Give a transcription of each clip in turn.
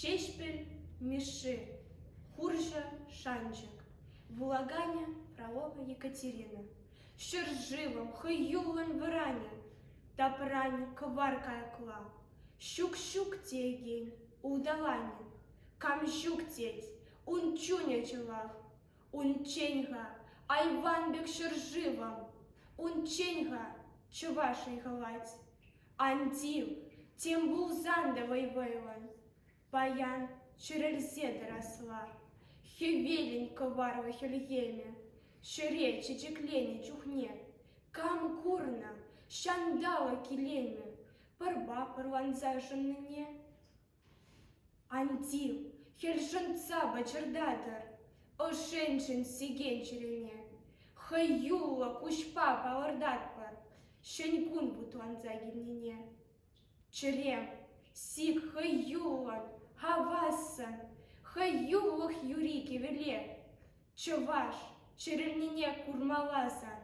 Ҫеҫпӗл Мишши хурҫӑ шанчӑк, вулаканӗ Фролова Екатерина, ҫӗршывӑм хӑюллӑн вӑранӗ, тапранӗ кӑвар кайӑкла, ҫук-ҫук теекен улталанӗ, кам ҫук тет, ун чунӗ чӑлах, унччен-ха айван пек ҫӗршывӑм, унччен-ха чӑваш ыйхӑлать. Ан тив, тем пулсан та вӑй-вӑйлӑн, паян чӗрӗлсе тӑрасла. Хӗвелӗн кӑварлӑ хӗлхемӗ ҫӗре чечекленӗ чухне кам курнӑ ҫанталӑк илемӗ пӑрпа пӑрланса шӑннине? Анти, хӗр шӑнтса пӑчӑртатӑр ӑшшӗншӗн сикен чӗрене. Хӑюллӑ куҫпа палӑртатпӑр ҫӗнкун путланса килнине. Чӗре, сик хӑюллӑн, хавассӑн, хӑюлӑх юри кӗвӗле. Чӑваш чӗрӗлнине курмалла сан,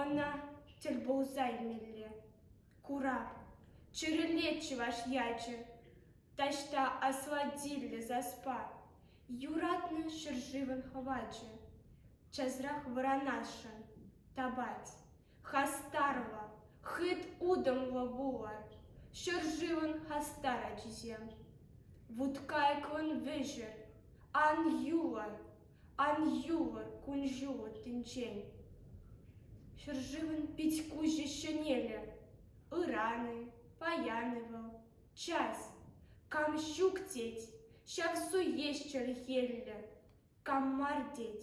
ӑна тӗл пулса илмелле. Курап, чӗрӗлет чӑваш ячӗ, Таҫта асладиллӗ саспа, Юратнӑ ҫӗршывӑн хӑвачӗ. Часрах вӑранасшӑн тапать хастарла, Хыт утӑмлӑ пулӑр ҫӗршывӑн хастар ачисем. Вуткайкӑн вӗҫӗр ан юлӑр Ан юлӑр кун-ҫулӑ тӗнчен. Ҫӗршывӑн пит-куҫӗ ҫӗнелӗ. Ыран-и, паян-и вӑл, час. Кам ҫук тет, ҫав су еш чӗлхеллӗ. Кам мар тет,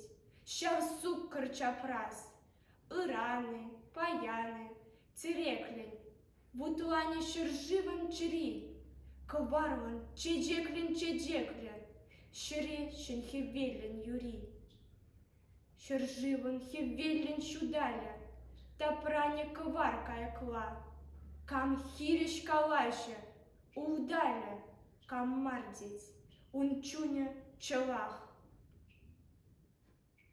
ҫав суккӑр чапрас. Ыран-и, паян-и, тӗреклӗн. Вутӑланӗ ҫӗршывӑн чӗри, Кӑвармӑн чечеклӗн чечеклӗ, Ҫӗре ҫӗн хӗвеллӗн юри. Ҫӗршывӑн хӗвеллӗн ҫуталӗ, Тапранӗ кӑвар кайӑкла, Кам хирӗҫ калаҫӗ, Увдалӗ, кам мар тет, Ун чунӗ чӑлах.